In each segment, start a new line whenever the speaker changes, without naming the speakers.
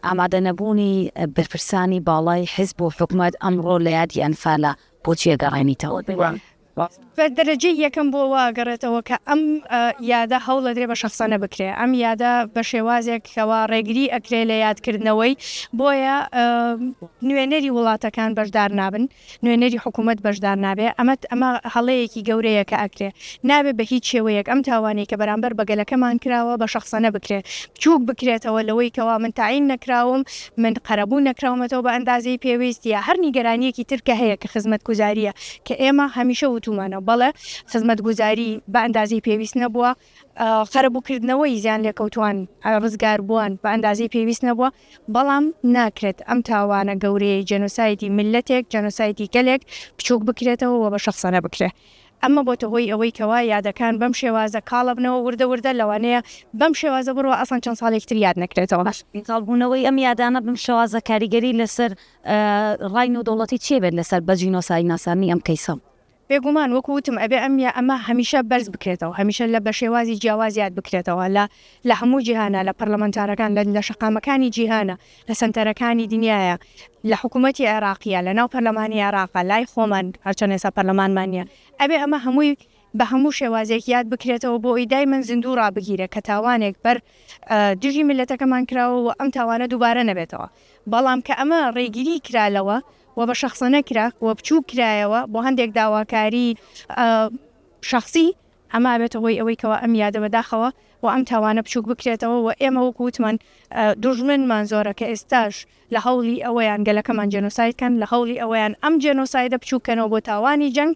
ئامادەنەبوونی بەرپرسانی باڵای حیزب و حکومەت ئەمڕۆ لە یادی ئەنفالە، بۆچی ئەگەڕێنیتەوە؟ بە
دەرەجەی یەکەم بۆ وا ئەگەڕێتەوە کە ئەم یادە هەوڵەدرێ بە شەخسەنە بکرێ، ئەم یادە بە شێوازێک کەوا ڕێگری ئەکرێ لە یادکردنەوەی، بۆیە نوێنەری وڵاتەکان بەشدار نابن. نوێنەری حکوومەت بەشدار نابێ، ئەمە ئەمە هەڵەیەکی گەورەیە کە ئەکرێ. نابێ بە هیچ شێوەیەک ئەم تاوانەی کە بەرامبەر بە گەلەکەمان کراوە بە شەخسەنە بکرێ، بچووک بکرێتەوە لەوەی کەوا من تەعین نەکراوم، من قەرەبوو نەکراومەتەوە بە ئەندازەی پێویست یا هەر نیگەرانییەکی تر کە هەیە کە خزمەتگوزارییە کە ئێمە هەمیشە وتوومانە بەڵێ خزمەتگوزاری بە ئەندازەی پێویست نەبووە. قەرەبووکردنەوەی زیانلێکەوتووان ڕزگاربووان بە ئەندازەی پێویست نەبووە، بەڵام ناکرێت ئەم تاوانە گەورەیەی جێنۆسایدی میللەتێک، جێنۆسایدی گەلێک بچووک بکرێتەوە و بە شەخسانە بکرێت. ئەمە بۆتە هۆی ئەوەی کەوا یادەکان بەم شێوازە کاڵە بنەوە وردە وردە لەوانەیە بەم شێوازە بڕوا ئەسڵەن چەند ساڵێکی تر یاد نەکرێتەوە. کاڵبوونەوەی ئەم
یادانە بەم شێوازە کاریگەری لەسەر ڕای نێودەوڵەتی چی ئەبێت لەسەر بە جینۆسایدناساندنی ئەم کەیسە؟ بێگومان وەکو
وتم ئەبێ ئەم یا ئەمە هەمیشە بەرز بکرێتەوە هەمیشە لە بەشێوازی جیاواز یاد بکرێتەوە لە لە هەموو جیهانە لە پەرلەمانتارەکان لە لە شەقامەکانی جیهانە لە سەنتەرەکانی دنیایە لە حکومەتی عێراقیە لە ناو پەرلەمانی عێراقە لای خۆمان هەرچەند ئێستا پەرلەمانمان نیە ئەبێ ئەمە هەمووی بە هەموو شێوازێک یاد بکرێتەوە بۆ ئەوی دایمەن زیندوو ڕابگیرێ کە تاوانێک بەر دژی میللەتەکەمان کراوە و ئەم تاوانە دووبارە نەبێتەوە. بەڵام کە ئەمە ڕێگری کرا لەوە و بە شەخسە نەکرا و بچووک کرایەوە بۆ هەندێک داواکاریی شەخسی، ئەمە ئەبێتە هۆی ئەوەی کەوا ئەم یادە بە داخەوە و ئەم تاوانە بچووک بکرێتەوە و ئێمە وەکوو وتمان دوژمنمان زۆرە کە ئێستاش لە هەوڵی ئەوەیان گەلەکەمان جێنۆساید کەن، لە هەوڵی ئەوەیان ئەم جێنۆسایدە بچووک کەنەوە بۆ تاوانی جەنگ.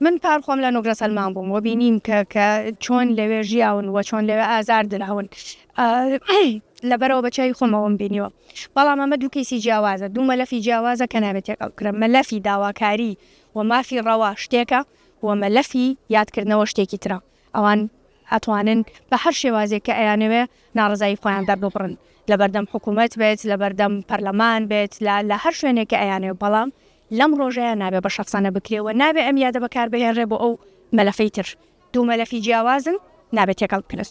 من پار خۆم
لە نوگرە سەلمان بووم و بینیم کە کە چۆن لەوێ ژیاون و چۆن لەوێ ئازار دراون لە بەرەوە بە چای خۆمەوەم بینیوە بەڵام ئەمە دوو کەیسی جیاوازە دوو مەلەفی جیاوازە کە نابێت تێکەڵ کرە مەلەفی داواکاری و مافی ڕەوا شتێکە و مەلەفی یادکردنەوە شتێکی ترە ئەوان ئەتوانن بە هەر شێوازێک کە ئەیانەوێ ناڕزایی خۆیان دەرببڕن لە بەردەم حکوومەت بێت لە بەردەم پەرلەمان بێت لە لە هەر شوێنێک کە ئەیانێ بەڵام لەم ڕۆژەیا نابێ بە شەخسانە بکرێ و نابێ ئەم یادە بەکار بهێنرێ بۆ ئەو مەلەفەی تر. دوو مەلەفی جیاوازن، نابێ تێکەڵ بکرێن.